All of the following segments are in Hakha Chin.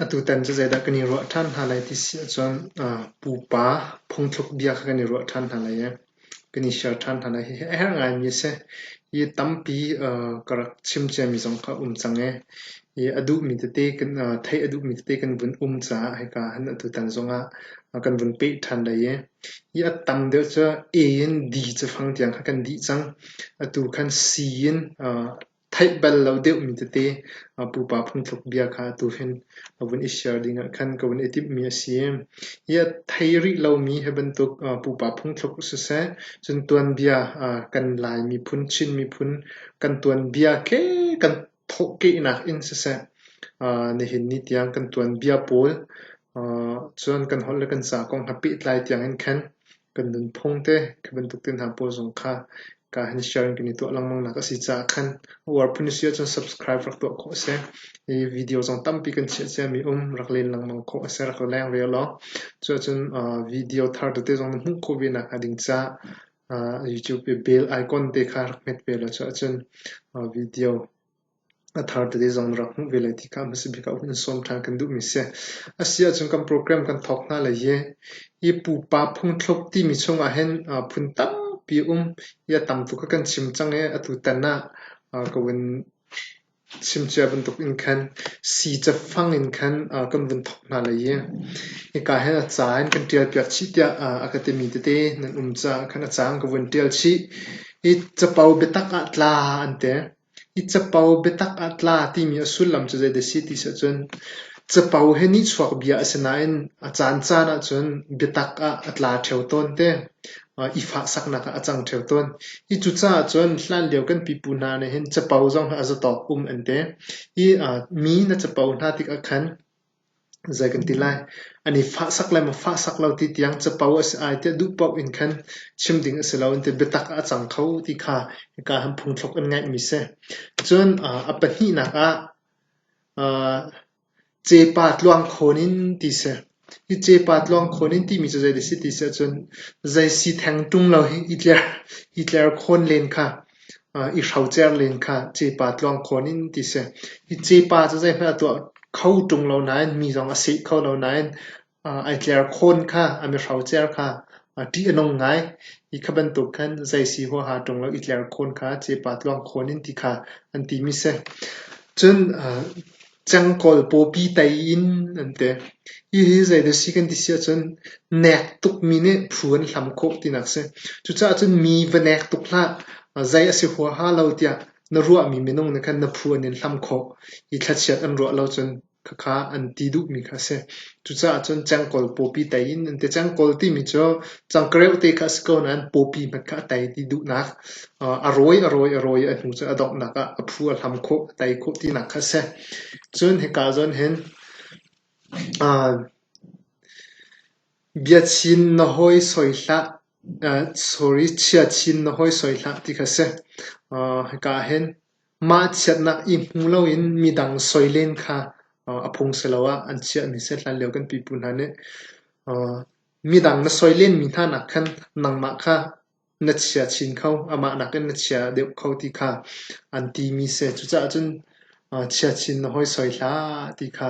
Atutan cu zeidah kan i ruah ṭhan hna lai ti si ahcun pupa phungthluk bia kha kan i ruah ṭhan hna lai i kan i share ṭhan hna lai. Hihi a herh ngaimi a si. Hi tampi ka rak chim ciami zong kha a um cang i hi a duhmi tete kan theih a duhmi tete kan vun um caah hika hin atutan zongah kan vun peh ṭhan lai i hi a tam deuh cu a in d cafang tiang kha kan dih cang. Atu khan c in Theih bal lo deuhmi tete pupa phungthluk bia kha atu hin a vun i share dingah khan ka vun i timhmi a si. Hi a thei rih lomi hi bantuk pupa phungthluk siseh, cun tuanbia kan Lai miphun, Chin miphun kan tuanbia ke kan thawhkehnak in siseh, nihin ni tiang kan tuanbia pawl cun kan holh le kan ca kong ha pehtlai tiangin khan Kan nunphung te khi bantuk te hna pawl zong kha kaa han share in kan i tuah lengmang nak a si caah khan a uar phun si ahcun subscribe rak tuah khawh a si. I video zong tampi kan chiah cia mi um rak len lengmang khawh a si rak la leng rel law. Cuahcun uh, video thar tete zong na hmuh khawh ve nak hnga ding caah uh, YouTube i bell icon te kha rak hmet ve law cuahcun uh, video A thar tete zong na rak hmuh ve lai ti kha hmasa bik ah hun sawm ṭhan kan duhmi a si. A si ahcun kan program kan thawk hna lai i, hi pupa phungthluk timi chungah hin phun tampi um i a tam tuk a kan chim cang i, atu tan ah ka vun chim cia bantuk in khan sii cafang in khan kan vun thawk hna lai i, hika hin a ca in kan ṭial piak chih tiah a ka timi tete nan um caah khan a ca in ka vun ṭial chih. Hi capo biatak ah tla an ti. Hi capo biatak ah tla timi a sullam cu zeidah a si ti si ahcun capo hi nihchuak bia a si nain a caancaan ahcun biatak ah a tla ṭheo tawn te. I fahsaknak ah a cang ṭheo tawn. Hi cucaah cun hlanlio kan pipu hna nih hin capo zong hi a zatawk um an ti. Hi mi na capo hna tikah khan Zei kan ti lai, an i fahsak le mafahsak lo ti tiang capo a si ai tiah duh paoh in khan chim ding a si lo an ti. Biatak ah a cang kho ti kha hika han phungthluk in ngaihmi si. Cun a pahnihnak ah cepa tluang khawn in ti si. Hi cepa tluang khawn in timi cu zei dah a si ti si ahcun zei si theng ṭung lo hi i tler khawn len kha. I hrocer len kha cepa tluang khawn in ti si. Hi cepa cu zeihmanh a tuah kho ṭung lo nain mi zong a seh kho lo nain ai tler khawn kha an i hrocer kha ṭih a nung ngai. Hi kha bantuk khan zei si huaha ṭung lo i tler khawn kha cepa tluang khawn in ti kha an ti mi si. Cun Cangkawl pawpi tai in an ti. Hihi zeidah a si kan ti si ahcun nek tukmi nih phu an hlam khawh tinak a si. Cucaah cun mi va nek tuk hlah, zei a si huaha lo tiah na ruahmi minung nih khan na phu an in hlam khawh. Hi thlachiat an ruah lo cun khakha an ti duhmi kha a si. Cucaah cun cengkawl pawpi tei in an ti. Cengkawl timi cu cangkareu te kha a si ko nain pawpi hmanh kha a tei ti duhnak, a rawi, a rawi, a rawi a hnu cu a donghnak ah a phu a hlam khawh, a tei khawh tinak kha a si. Cun hika ah cun hin biachin na hawi soi hlah, sorry, chiachin na hawi soi hlah ti kha a si. Hika ah hin Mah chiatnak i hmu loin midang soi len kha a phung siloah an chiah ni seh hlanlio kan pipu hna nih midang na soi lenmi hna nak khan nangmah kha na chia chin kho, amah nakin na chia deuh kho ti kha an timi si. Cucaah cun chia chin na hoi soi hlah ti kha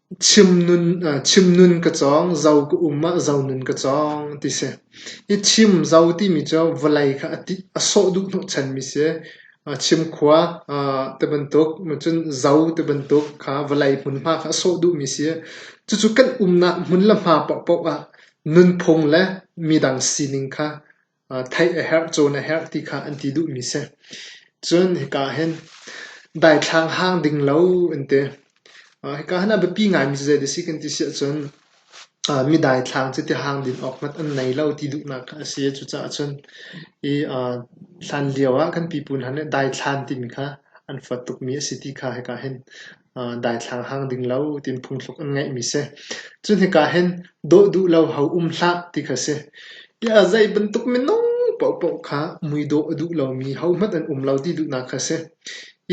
Chimnun ka cawng, zo ka um ah zonun ka cawng ti si. Hi chim zo timi cu vawlei kha a sawh duh hnawhchanmi si. Chimkhua tibantuk, cun zo tibantuk kha vawlei hmunhma kha a sawh duhmi si. Cucu kan umnak hmun le hma paohpaoh ah nunphung le midang sining kha Theih a herh, cawn a herh ti kha an ti duhmi si. Cun hika ah hin daithlang hang ding lo an ti. Hika hin a biapi ngaimi cu zei dah a si kan ti si ahcun mi daithlang cu ti hang din awk hmanh an nei lo ti duhnak kha a si. Cucaah cun hi hlan lio ah kan pipu hna nih daithlan timi kha an fawt tukmi a si ti kha hika hin Daithlang hang ding lo tiin phungthluk an ngeihmi si. Cu hnika hin dawh duh lo ho um hlah ti kha si. Tiah zei bantuk minung paohpaoh kha mui dawh a duh lomi hohmanh an um lo ti duhnak kha si.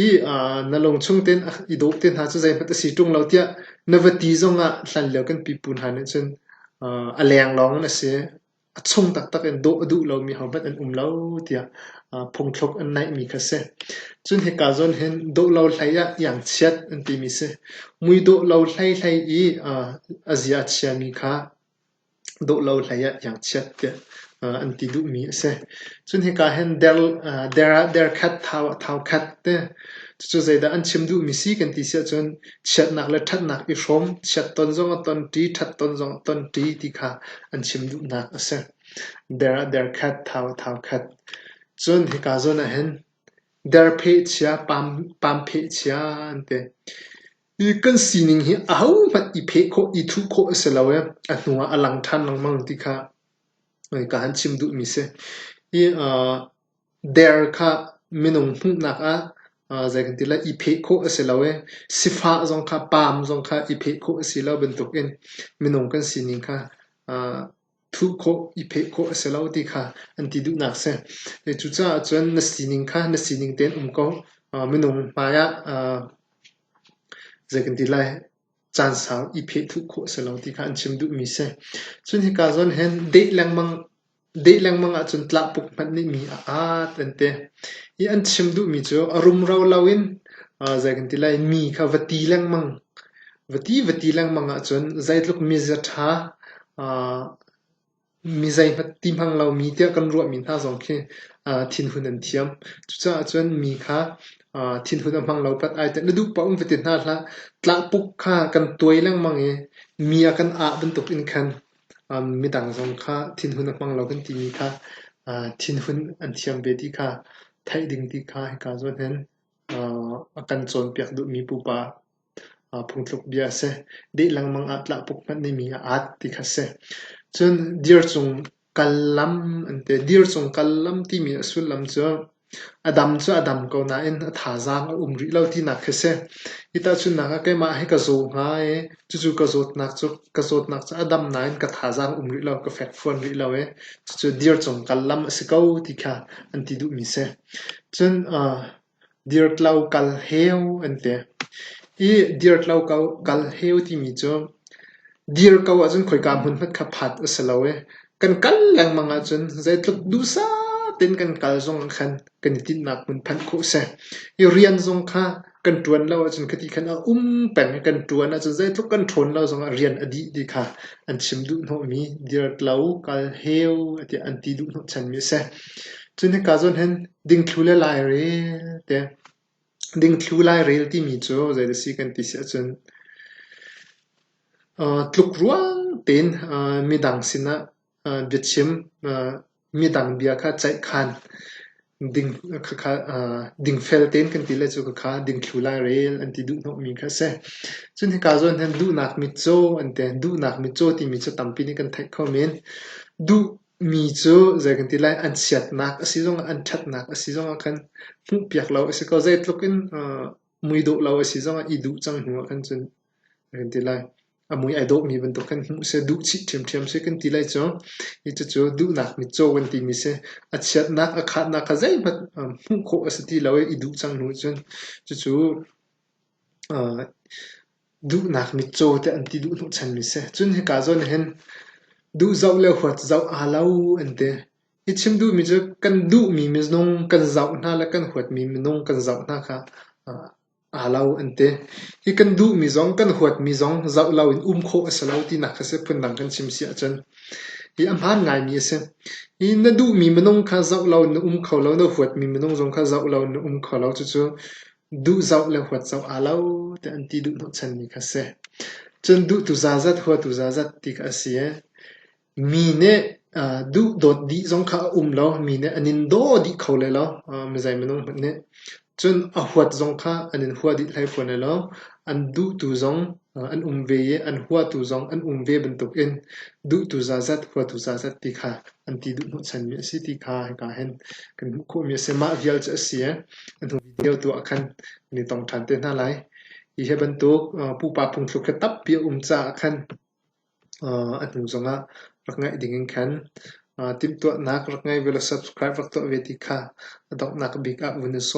I na lung chung tein i dawh te hna cu zeihmanh a si ṭung lo tiah na va ti zongah hlanlio kan pipu hna nih cun a leng lawng in a si. a chung taktak in dawh a duh lomi hohmanh an um lo tiah phungthluk an naihmi kha a si. Cun hika zawn hin dawh lo hlei ah iangchiat an timi a si. Mui dawh lo hlei hlei i a zia a chiami kha dawh lo hlei ah iangchiat tiah an ti duhmi a si. Cun hika hin der khat thau khat te. Cucu zeidah an chim duhmi si kan ti si ahcun Chiatnak le ṭhatnak i hrawm, chiat ton zong a ton, ṭi ṭhat ton zong a ton, ṭi ti kha an chim duhnak a si. Der ah der khat, thau ah thau khat. Cun hika zawn ah hin der pheh chia, pam, pam pheh chia an ti. I kan sining hi ahohmanh i pheh khawh, i thuh khawh a si lo i a hnu ah a lang ṭhan lengmang ti kha ka han chim duhmi si. Hi uh, Der kha minung hmuhnak ah zei kan ti lai i pheh khawh a si lo i sifah zong kha paam zong kha i pheh khawh a si lo bantukin minung kan sining kha thuh khawh i pheh khawh a si lo ti kha an ti duhnak a si. Cucaah cun na sining kha na sining tein um ko. Minung hmaiah zei kan ti lai caan sau i pheh thuh khawh a si lo ti kha an chim duhmi a si. Cun hika zawn hin deh lengmang Deih lengmang ahcun tlahpuk hmanh nih mi a at an ti i an chim duhmi cu a rumro loin zei kan ti lai mi kha va ti lengmang. Va ti va ti lengmang ahcun zeitluk miza ṭha mi zeihmanh ti hmang lomi tiah kan ruahmi hna zong khi thinhun an thiam. Cucaah cun mi kha thinhun a hmang lo pat ai teh na duh paoh in va ti hna hlah. Tlahpuk kha kan tuai lengmang i mi a kan ah bantuk in khan midang zong kha thinhun a hmang lo kan timi kha thinhun an thiam ve ti kha theih ding ti kha hika zawn hin a kan cawnpiak duhmi pupa phungtluk bia a si. Deh lengmang ah tlahpuk hmanh nih mi a aat ti kha a si. Cun dir cung kal lam an ti. Dir cung kal lam timi a sullam cu A dam cu a dam ko nain a thazaang a um rih lo tinak khi si. Hi tahchunhnak ah keimah hi ka zaw hnga i cucu ka zawtnak cu ka zawtnak cu a dam nain ka thazaang um rih lo, ka fek phuan rih lo i cucu dir cung kal lam a si ko ti kha an ti duhmi si. Cun aa dirtlo kal heu an ti. I dirtlo kal heu timi cu Dir ko ahcun khoika hmunhmat kha phat a si lo i kan kal lengmang ahcun zeitluk duhsah tein kan kal zong ah khan kan i tinhnak hmun phanh khawh a si. I rian zong kha kan ṭuan lo ahcun khiti khan a um peng i kan ṭuan ahcun zeitluk kan ṭhawn lo zong ah rian a dih ti kha an chim duhhnawhmi dirtlo, kal heu tiah an ti duhhnawhchanmi a si. Cun hika zawn hin dingthlu le lairel te Dingthlu lairel timi cu zei a si kan ti si ahcun tlukruang tein midang sinah biachim, midang bia kha ceihkhan, dingfel tein kan ti le cu khakha dingthlu lairel an ti duhhnawhmi kha a si. Cun hika zawn hin duhnak mitcaw an ti. Duhnak mitcaw timi cu tampi nih kan theih kho men. Duh Mi cu zei kan ti lai an siatnak a si zongah an ṭhatnak a si zongah khan hmuhpiak lo a si ko. Zeitluk in mui dawh lo a si zongah i duh cang hnuah khan cun a kan ti lai. A mui ai dawhmi bantuk khan hmuh seh, duh chih ṭhiamṭhiam seh kan ti lai cu. Hi cucu duhnak mitcaw kan timi si. A chiatnak, a khatnak kha zeihmanh hmuh khawh a si ti lo i i duh cang hnuah cun cucu Duhnak mitcaw tiah an ti duh hnawhchanmi si. Cun hika zawn ah hin duh zoh le huat zoh aa lo an ti. Hi chim duhmi cu kan duhmi minung kan zoh hna le kan huatmi minung kan zoh hna kha aa lo an ti. Hi kan duhmi zong, kan huatmi zong zoh loin um khawh a si lo tinak kha si phundang kan chim si ahcun hi a hmaan ngaimi a si. Hi na duhmi minung kha zoh loin na um kho lo, na huatmi minung zong kha zoh loin na um kho lo. Cucu duh zoh le huat zoh aa lo tiah an ti duh hnawhchanmi kha a si. Cun duhtu zazat, huatu zazat ti kha a si i mi nih uh, duh dawt dih zong kha a um lo, mi nih an in daw dih kho le lo uh, mizei minung hmanh nih. Cun a huat zong kha an in hua dih hlei fawn le lo, an duhtu zong uh, an um ve i an huatu zong an um ve bantukin duhtu zazat, huatu zazat ti kha an ti duh hnawhchanmi a si ti kha hika hin kan hmuh khawhmi a si. Mah vial cu a si i an hung Tio tu ah khan kan i tong ṭhan te hna lai. Hi hi bantuk pupa phungthluk hi tampi a um caah khan a hnu zongah rak ngaih dingin khan timhtuahnak rak ngei ve law subscribe rak tuah ve ti kha a donghnak bik ah vun i sawm.